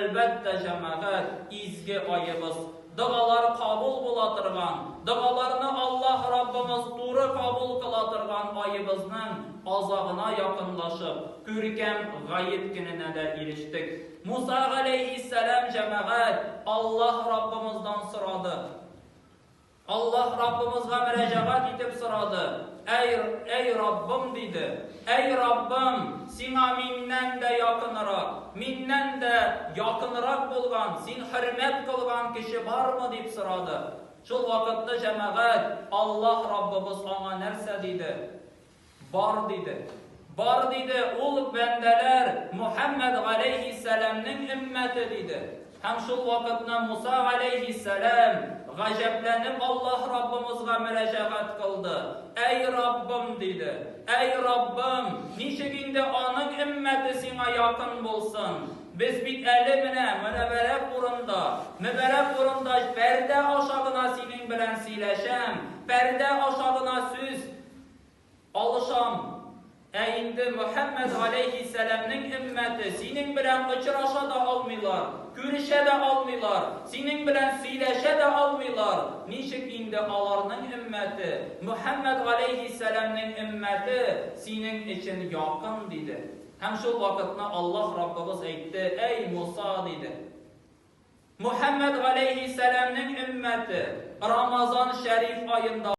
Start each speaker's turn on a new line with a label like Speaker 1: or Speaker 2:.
Speaker 1: Әлбәттә, җәмәгать, изге аебыз, догалар кабул була торган, догаларны Аллаһ Раббыбыз туры кабул кыла торган аебызның азагына якынлашып, күркәм Гает көненә дә ирештек. Муса галәйһиссәлам, җәмәгать, Аллаһ Раббымыздан сорады. Аллаһ Раббымызга мөрәҗәгать итеп сорады, Әй, әй Раббым, диде, әй Раббым, Сиңа миннән дә якынырак, миннән дә якынырак булган, Син хөрмәт кылган кеше бармы? дип сорады. Шул вакытны җәмәгать, Аллаһ Раббыбыз аңа нәрсә диде? Бар диде. Бар диде, ул бәндәләр Мухәммәд галәйһиссәламнең өммәте диде. Һәм шул вакытны Муса галәйһиссәлам, гаҗәпләнеп, Аллаһ Раббымызга мөрәҗәгать кылды. Әй Раббым, диде. Әй Раббым, ничек инде аның өммәте сиңа якын булсын? Без бит әле менә мөнәбәрәк урында, мөбәрәк урында пәрдә аша гына синең белән сөйләшәм, пәрдә аша гына сүз Алышам. Ә инде Мөхәммәд галәйһиссәламнең өммәте синең белән очраша да алмыйлар, күрешә дә алмыйлар, синең белән сөйләшә дә алмыйлар, ничек инде аларның өммәте, Мөхәммәд галәйһиссәламнең өммәте синең өчен якын, диде. Һәм шул вакытны Аллаһ Раббыбыз әйтте, Әй Муса, диде. Мөхәммәд галәйһиссәламнең өммәте Рамазан шәриф аенда.